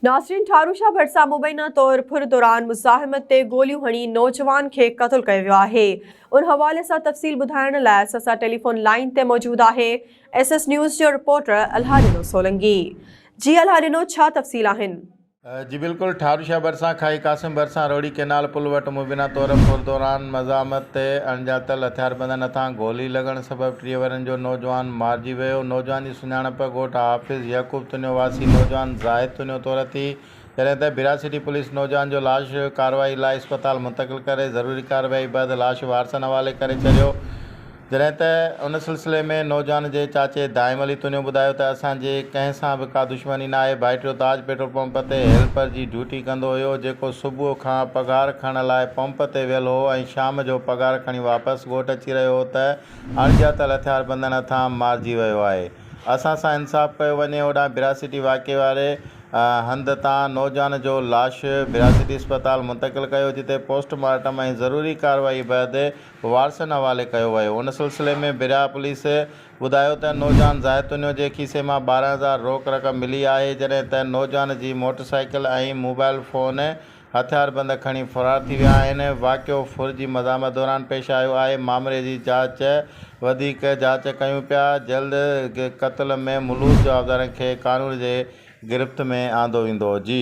ناصرين ٺاروشا ڀٽ سان مبينا طور ڦر دوران مزاحمت تي گوليون هڻي نوجوان کي قتل ڪيو ويو آهي ان حوالي سان تفصيل ٻڌائڻ لاء سسا ٽيليفون لائين تي موجود آهي ايس ايس نيوز جو رپورٽر الها ڏنو سولنگي جي الها ڏنو ڇا تفصيل آهن. جي بلڪل ٺاروشا ڀرسان کاهي قاسم ڀرسان روهڙي ڪئنال پل وٽ مبينا طور ڦر دوران مزاحمت تي اڻڄاتل هٿياربندن هٿان گولي لڳڻ سبب ٽيهه ورهين جو نوجوان مارجي ويو نوجوان جي سڃاڻپ، ڳوٺ حافظ يعقوب تنيو واسي نوجوان زاهد تنيو طور اٿي، جڏهن ته بھرا سٽي پوليس نوجوان جو لاش ڪارروائي لاء اسپتال منتقل ڪري ضروري ڪارروائي بعد لاش وارثن حوالي ڪري ڇڏيو، جڏهن ته ان سلسلي ۾ نوجوان جي چاچي دائم علي تنيو ٻڌايو ته اسان جي ڪنهن سان به ڪا دشمني ناهي، ڀائٽيو تاج پيٽرول پمپ تي هيلپر جي ڊيوٽي ڪندو هيو، جيڪو صبح کان پگهار کڻڻ لاء پمپ تي ويل هو ۽ شام جو پگهار کڻي واپس ڳوٺ اچي رهيو هو ته اڻڄاتل هٿياربندن هٿان مارجي ويو آهي. اسان سان انصاف ڪيو وڃي. هوڏانهن براسيٽي واقعي واري هنڌ تان نوجوان جو لاش براسيٽي اسپتال منتقل ڪيو جتي پوسٽ مارٽم ۽ ضروري ڪارروائي بعد وارثن حوالي ڪيو ويو. ان سلسلي ۾ براهه پوليس ٻڌايو ته نوجوان زاهدتونيو جي کيسي مان ٻارهن هزار روڪ رقم ملي آهي جڏهن ته نوجوان جي موٽرسائيڪل ۽ موبائل فون هٿياربند کڻي فرار ٿي ويا آهن، واقعو ڦر جي مزاحمت دوران پيش آيو آهي، معاملي جي جاچ وڌيڪ جاچ ڪيون پيا، جلد قتل ۾ ملوث جوابدارن کي قانون جي گرفت ۾ آندو ويندو. جي.